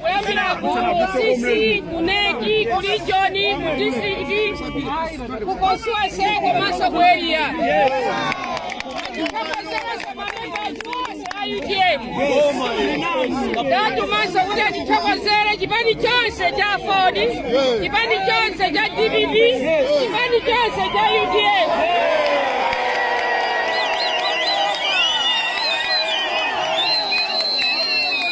kuyambira ku cc ku nec ku region ku district ku constituency komanso ku area tikomasekosa mamemba athu onse a utm tatumanso kuti atithokozere chipani chonse cha aford chipani chonse cha dpp chipani chonse cha udf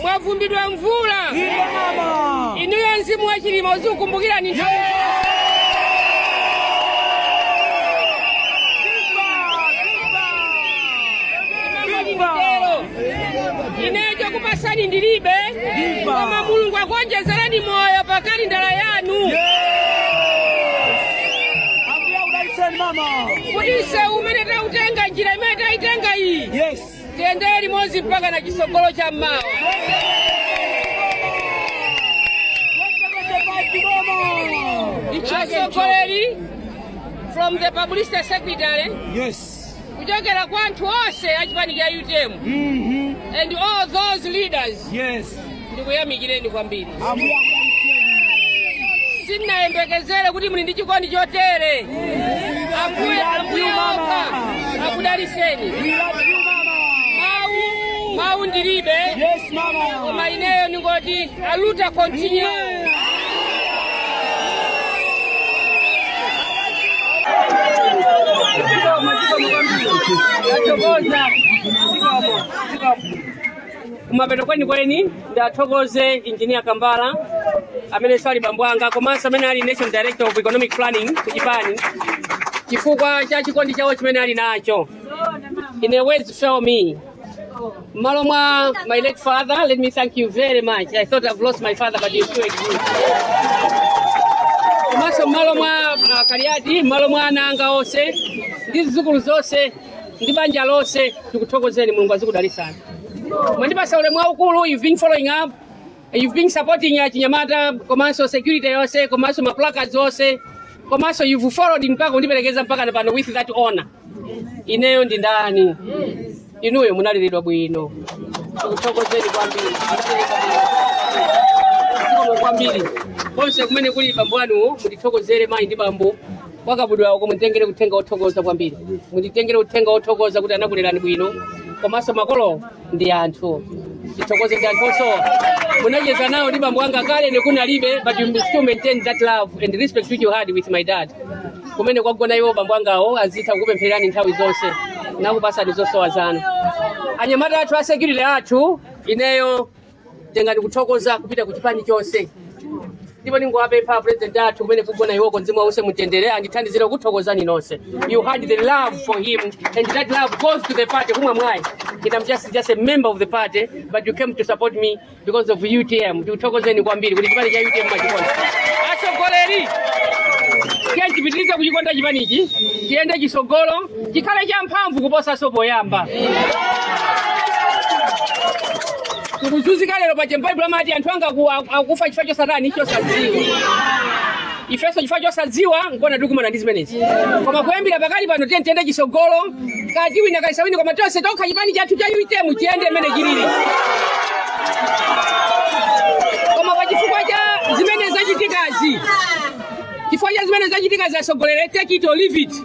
mwavumbidwa mvula inuyo mzimu wa chilima uzikukumbukirani nthawi ine chokupasani ndilibe koma mulungu akuonjezerani moyo pa kalendala yanu kuti mseu umene tautenga njira imene taitenga iyi tiyendere limodzi mpakana chisogolo cha mmawa atsogoleri from the publicity secretary Yes. kuchokera kwa anthu onse achipani cha utm and all those leaders Yes. ndikuyamikireni kwambiri sinnayembekezere kuti muli ndi chikondi chotere ambuye ambuye okha akudaliseni mawu mawu ndilibe koma ineyo ndingoti aluta continue Thank you. kumapeto kwenikweni ndiathokoze injinia kambala amenenso ali bambo anga komanso amene ali national director of economic planning ku chipani chifukwa cha chikondi chawo chimene ali nacho ine words fail me mmalo mwa my late father let me thank you very much i thought i've lost my father but you still exist komanso mmalo mwa a kaliati mmalo mwa ana anga onse ndi zidzukulu zonse ndi banja lonse tikuthokozeni mulungu azikudalisani mwandipasa ulemu waukulu you've been following up you've been supporting achinyamata komanso security yonse komanso maplacards onse komanso you've followed mpaka kundiperekeza mpaka pano with that honor ineyo ndi ndani inuyo munaleredwa bwino tikuthokozeni kwambiri Munaleredwa bwino. Zikomo kwambiri konse kumene kuli bambo anu mutithokozere mayi ndi bambo kwa kabudula uko munditengere uthenga wothokoza kwambiri munditengere uthenga wothokoza kuti anakulerani bwino komanso makolo ndi anthu tithokoze ndi anthu osowa munacheza nawo ndi bambo wanga kale ine kunalibe but you still maintain that love and respect which you had with my dad kumene kwagona iwo bambo angawo azitha kukupemphererani nthawi zonse nakupasani zosowa zanu anyamata athu a security athu ineyo tengani kuthokozaku kupite ku chipani chonse ndipo ndingowapempha president athu kumene akugona iwoko mzimu wawo uwuse mumtendere andithandizire kuthokozani nonse you had the love for him and that love goes to the party kumwe mwayi and i'm just, just a member of the party but you came to support me because of utm tikuthokozeni kwambiri kuti chipani cha utm mumachikonda atsogoleri tiyeni tipitirize kuchikonda chipanichi tiyende chitsogolo chikhale champhamvu kuposanso poyamba tikuzunzika lero paja mbaibulo amati anthu anga aku- aku- akufa chifukwa chosatani chosadziwa ifenso chifukwa chosadziwa nkona tikumana ndi zimenezi koma kuyambira pakali pano tiye tiyende chitsogolo kati wina kaisawini koma tonse tokha chipani chathu cha UTM chiyende mmene chilili koma pa chifukwa cha zimene zachitikazi chifukwa cha zimene zachitikazi atsogolere take it or leave it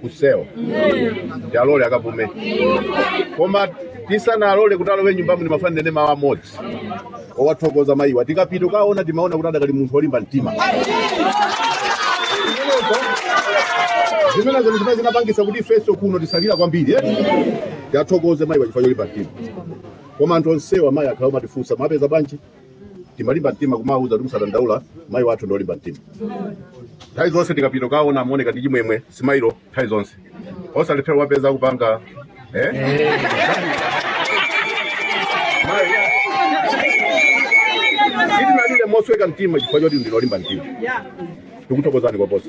kusewa tiwalole akapume koma tisanawalole kuti alowe nyumbamu ndimafuna ndinene mawu amodzi owathokoza mayiwa tikapita kukawaona timaona kuti adakali munthu wolimba mtima zimenezo ndi zimene zinapangitsa kuti ifenso kuno tisalire kwambiri eti tiwathokoze mayiwa chifukwa cholimba mtima koma anthu onsewa mayi akhala akumatifunsa mwawapeza bwanji timalimba mtima kumawauza kuti musadandaule mayi wathu ndi olimba mtima nthawi zonse tikapita kukawaona amaoneka ndi chimwemwe simailo nthawi zonse osalephera kuwapeza akupanga eh? Mayi, sitinalire mosweka mtima chifukwa choti ndinu olimba mtima tikuthokozani koposa